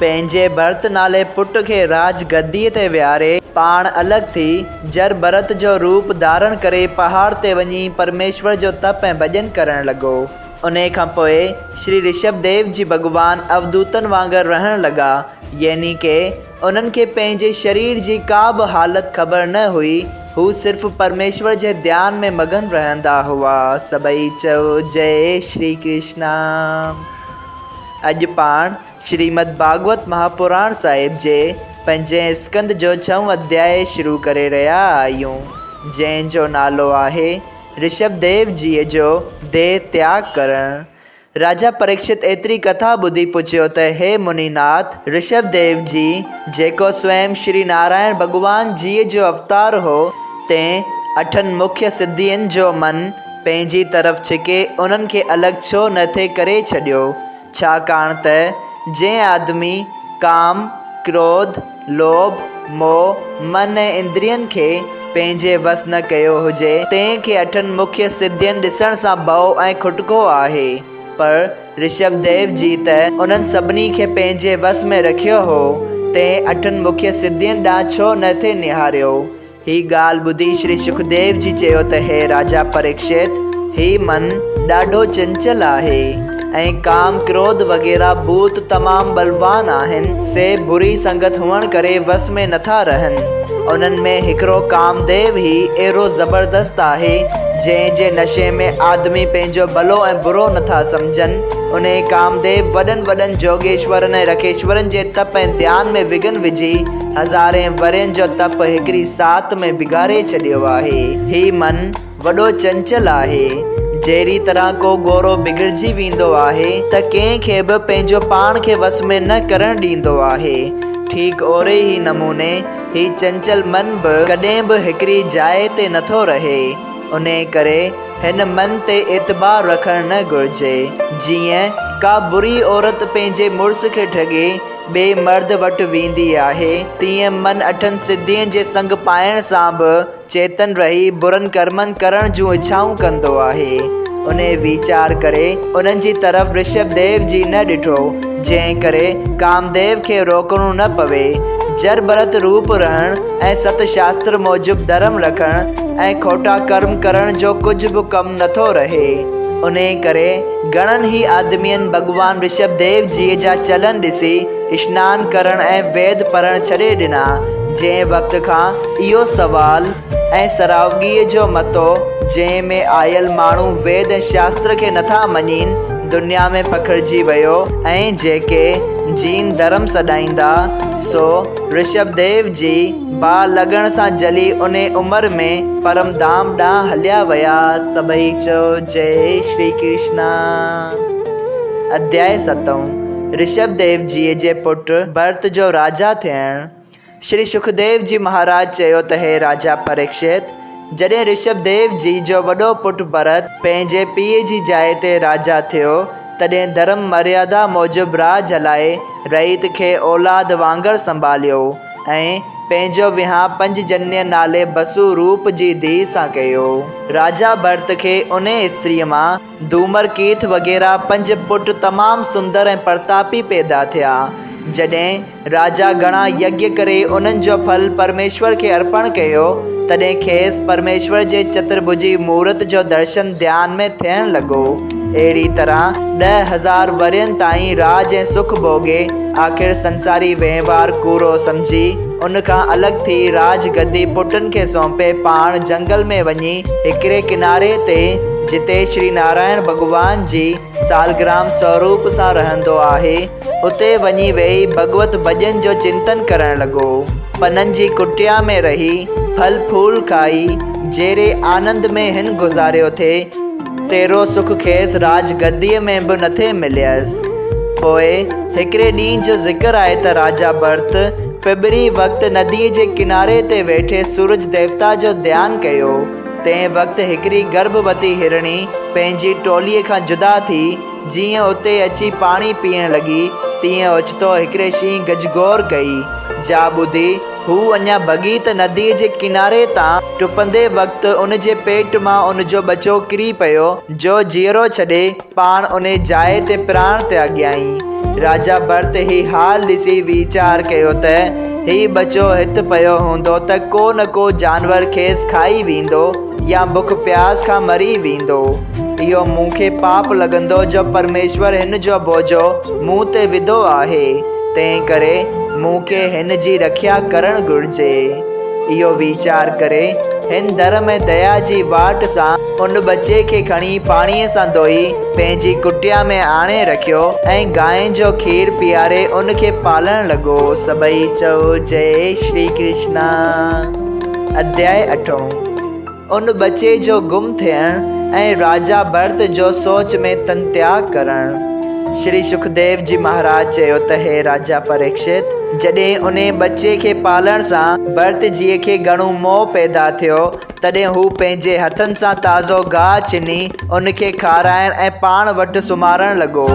پنهنجي ڀرت نالي پٽ کي راڄ گديء تي ويهاري، پاڻ الڳ ٿي، جر ڀرت جو روپ ڌارڻ ڪري پهاڙ تي وڃي پرميشور جو تپ ۽ ڀڄن ڪرڻ لڳو. انهيء کان پوء شري رشڀ ديو جي ڀڳوان اوڌوتن وانگر رهڻ لڳا، يعني ڪي انهن کي پنهنجي شرير جي ڪا به حالت خبر نه هئي، هو صرف پرميشور جي ڌيان ۾ مگن رهندا هئا. سڀئي چئو جئي شري ڪرشنا. اڄ پاڻ. شريمد ڀاڳوت مهاپراڻ صاحب جي پنجين اسڪند جو ڇهون اڌياء شروع ڪري رهيا آهيون، جنهن جو نالو آهي، رشڀ ديو جيء جو ديهه تياڳ ڪرڻ. راجا پريڪشت ايتري ڪٿا ٻڌي پڇيو ته هي مني ناٿ، رشڀ ديو جي، جيڪو سوئم شري نارائڻ ڀڳوان جيء جو اوتار هو، تنهن اٺن مکيه سڌين جو من پنهنجي طرف ڇڪي انهن کي الڳ ڇو نه ٿي ڪري ڇڏيو؟ ڇاڪاڻ ته جنهن آدمي ڪام، ڪروڌ، لوڀ، موهه، من ۽ اندرين کي پنهنجي وس نه ڪيو هجي، تنهن کي اٺن مکيه سڌين ڏسڻ سان ڀؤ ۽ کٽڪو آهي، پر رشڀ ديو جي ته انهن سڀني کي پنهنجي وس ۾ رکيو هو، تنهن اٺن مکيه سڌين ڏانهن ڇو نه ٿي نهاريو؟ هيء ڳالهه ٻڌي شري شڪديو جي چيو ته هي راجا پريڪشت، هيء من ڏاڍو چنچل آهي ۽ ڪام، ڪروڌ وغيره ڀوت تمام ٻلوان آهن، سي بري سنگت هئڻ ڪري وس ۾ نٿا رهن. انهن ۾ هڪڙو ڪامديو هي اهڙو زبردست آهي، جنهن جي نشي ۾ آدمي پنهنجو ڀلو ۽ برو نٿا سمجهن. انهيء ڪامديو وڏن وڏن جوڳيشورن ۽ رکيشورن جي تپ ۽ ڌيان ۾ وگهن وجهي، هزارين ورهين جو تپ هڪڙي ساعت ۾ بگاڙي ڇڏيو آهي. هي من وڏو چنچل آهي. جهڙي طرح ڪو گورو بگڙجي ويندو آهي ته ڪنهن کي به پنهنجو پاڻ کي وس ۾ نه ڪرڻ ڏيندو آهي. ٺيڪ اهڙي ئي نموني هي چنچل من به ڪڏهن به هڪڙي جاء تي نٿو رهي. انهيء ڪري هن من تي اعتبار رکڻ نه گهرجي. جيئن ڪا بري عورت پنهنجي مڙس کي ٺڳي، ٻئي مرد وٽ ويندي آهي، تيئن من اٺن سڌين جي سنگ پائڻ سان به چيتن رهي برن ڪرمن ڪرڻ جون اڇائون ڪندو آهي. انهي ويچار ڪري انهن جي طرف رشڀ ديو جي نه ڏٺو، جنهن ڪري ڪامديو کي روڪڻو نه پوي. جر ڀرت روپ رهڻ ۽ ست شاستر موجب ڌرم رکڻ ۽ کوٽا ڪرم ڪرڻ جو ڪجهه به ڪم نٿو رهي. انهي ڪري. گهڻن ئي آدمين ڀڳوان رشڀ ديو جيء جا چلن ڏسي اشنان ڪرڻ ۽ ويد پڙهڻ ڇڏي ڏنا. جنهن وقت کان اهو سوال ۽ سراوگيء جو متو جنهن ۾ آيل ماڻهو ويد ۽ شاستر کي نٿا مڃين، دنيا ۾ پکڙجي ويو ۽ جيڪي جين ڌرم سڏائيندا سو رشڀ ديو جي، باهه لڳڻ سان جلي انهي عمر ۾ پرم ڌام ڏانهن هليا ويا. سڀئي چئو جئي شري ڪرشنا. اڌيائي ستون، رشڀ ديو جيء جي پٽ ڀرت جو راجا ٿيڻ شري شڪديو جي مهاراج چيو ته هي راجا پريڪشت، جڏهن رشڀ ديو جيء جو وڏو پٽ ڀرت پنهنجي پيء جي جاء تي راجا ٿيو، تڏهن ڌرم مريادا موجب راڄ هلائي رعيت کي اولاد وانگر سنڀاليو. ۽ پنهنجو ويهان پنج جنيء نالي بسو روپ جي ڌيء سان ڪيو. راجا ڀرت کي انهيء استريء مان ڌومر ڪيٿ وغيره پنج پٽ تمام سندر ۽ پرتاپي پيدا ٿيا. جڏهن راجا گهڻا يگيا ڪري انهن جو ڦل پرميشور کي ارپڻ ڪيو، تڏهن کيس پرميشور جي چترڀجي مورت جو درشن ڌيان ۾ ٿيڻ لڳو. اهڙيء طرح ڏهه هزار ورهين تائين راڄ ۽ سک ڀوڳي، آخر سنساري وهنوار ڪوڙو سمجهي، ان کان الڳ ٿي راڄ گدي پٽن کي سونپي پاڻ جهنگل ۾ وڃي هڪڙي ڪناري تي جتي شري نارائڻ ڀڳوان جي سالگرام سوروپ سان رهندو آهي، اتي وڃي ويهي ڀڳوت ڀڄن جو چنتن ڪرڻ لڳو. پنن جي ڪٽيا ۾ رهي، ڦل ڦول کائي، جهڙي آنند ۾ هن گذاريو ٿي، تيرو سک کيس راڄ گديء ۾ به نٿي مليس. پوء هڪڙي ڏينهن جو ذڪر آهي ته راجا ڀرت ڦٻري وقت نديء جي ڪناري تي ويٺي سورج ديوتا جو ڌيان ڪيو. تنهن وقت هڪڙي گرڀوتي هرڻي پنهنجي ٽوليء کان جدا ٿي جيئن اتي اچي پاڻي پيئڻ لڳي تيئن اوچتو هڪڙي شينهن گجگوڙ ڪئي، جا ٻڌي، هو اڃا ڀڳي ته نديء جي ڪناري تان ٽپندي وقت ان جي پيٽ مان ان جو ٻچو ڪري پيو، جو جيئرو ڇڏي، پاڻ انهيء جاء تي پراڻ تياڳيائين. راجا ڀرت هي حال ڏسي ويچار ڪيو ته، هي ٻچو هت پيو هوندو ته ڪو نه ڪو جانور کيس کائي ويندو. يا بک پياس کان مري ويندو. اهو مون کي پاپ لڳندو جو پرميشور هن جو بوجهو مون تي وڌو آهي، تنهنڪري مون کي هن جي رکيا ڪرڻ گهرجي. اهو ويچار ڪري، هن در ۾ ديا جي واٽ سان ان ٻچي کي کڻي پاڻيء سان ڌوئي پنهنجي ڪٽيا ۾ آڻي رکيو ۽ گانء جو کير پياري ان کي پالڻ لڳو. سڀئي چئو جئي شري ڪرشنا. اڌيائي اٺون، ان ٻچي جو گم ٿيڻ ۽ راجا ڀرت جو سوچ ۾ تنتياڳ ڪرڻ. شري شڪديو جي مهاراج چيو ته هي راجا پريڪشت، جڏهن انهي ٻچي کي پالڻ سان ڀرت جيء کي گهڻو موهه پيدا ٿيو، تڏهن هو پنهنجي هٿن سان تازو گاهه چني ان کي کارائڻ ۽ پاڻ وٽ سمهارڻ لڳو.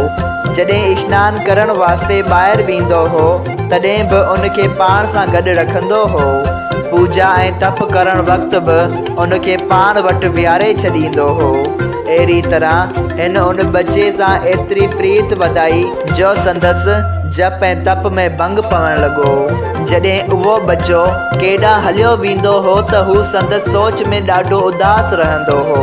جڏهن اشنان ڪرڻ واسطي ٻاهر ويندو هو، تڏهن به ان کي پاڻ سان گڏ رکندو هو. پوڄا ۽ تپ ڪرڻ وقت به ان کي پاڻ وٽ ويهاري ڇڏيندو هو. اهڙيء طرح هن ان ٻچي سان ايتري پريت وڌائي، جو سندس جپ ۽ تپ ۾ ڀنگ پوڻ لڳو. جڏهن اهو ٻچو ڪيڏانهن هليو ويندو هو ته هو سندس سوچ ۾ ڏاڍو اداس رهندو هو.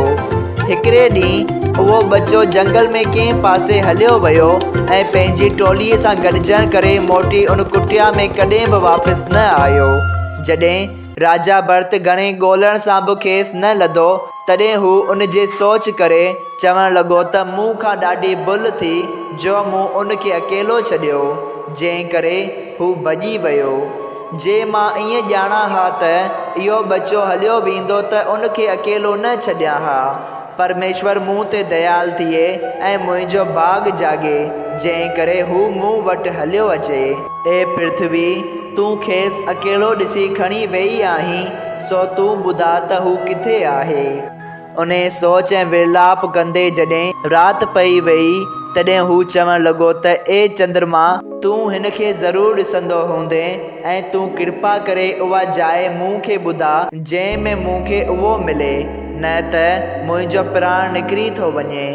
هڪڙي ڏينهن اهو ٻچو جهنگل ۾ ڪنهن پاسي هليو ويو ۽ پنهنجي ٽوليء سان گڏجڻ ڪري موٽي ان ڪٽيا ۾ ڪڏهن به واپس نه آيو. جڏهن راجا ڀرت گهڻي ڳولڻ سان به کيس نه لڌو. تڏهن هو ان جي سوچ ڪري چوڻ لڳو ته مون کان ڏاڍي ڀل ٿي جو مون ان کي اڪيلو ڇڏيو، جنهن ڪري هو ڀڄي ويو. جي مان ائين ڄاڻان ها ته اهو ٻچو هليو ويندو ته ان کي اڪيلو نه ڇڏيان ها. پرميشور مون تي ديال ٿئي ۽ منهنجو ڀاڳ جاڳي، جنهن ڪري هو مون وٽ هليو اچي. اي پرٿوي! تون کيس اڪيلو ڏسي کڻي ويئي آهين، سو تون ٻڌاء ته هو ڪٿي آهي؟ انهيء سوچ ۽ ورلاپ ڪندي جڏهن رات پئي ويئي، تڏهن هو چوڻ لڳو ته اي چندرما! تون هن کي ضرور ڏسندو هوندين ۽ تون ڪرپا ڪري اها جاء مون کي ٻڌاء، جنهن ۾ مون کي اهو ملي، نه ته منهنجو پراڻ نڪري ٿو وڃي.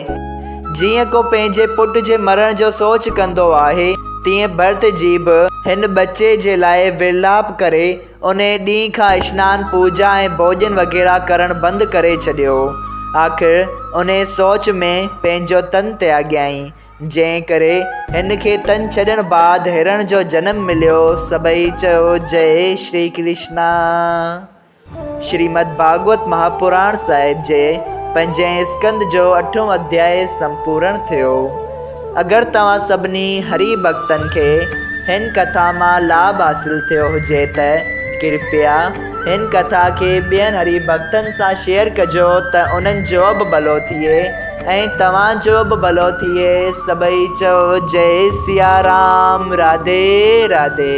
جيئن ڪو پنهنجي پٽ جي مرڻ جو سوچ ڪندو آهي، تيئن ڀرت جي به هن ٻچي جي لاء ورلاپ ڪري، انهيء ڏينهن کان اشنان، پوڄا ۽ ڀوڄن وغيره ڪرڻ بند ڪري ڇڏيو. آخر انهيء سوچ ۾ پنهنجو تن تياڳيائين، جنهن ڪري هن کي تن ڇڏڻ بعد هرڻ جو جنم مليو. سڀئي چيو جئي شري ڪرشنا. شريمد ڀاڳوت مهاپراڻ صاحب جي پنجين اسڪند جو اٺون اڌياء سمپورڻ ٿيو. اگر توهان سڀني هري ڀڳتن کي هن ڪٿا مان لاڀ حاصل ٿيو هجي ته ڪرپيا هن ڪٿا کي ٻين هري ڀڳتن سان شيئر ڪجو ته انهن جو به ڀلو ٿئي ۽ توهان جو به ڀلو ٿئي سڀئي چئو جئي سيارام راڌي راڌي.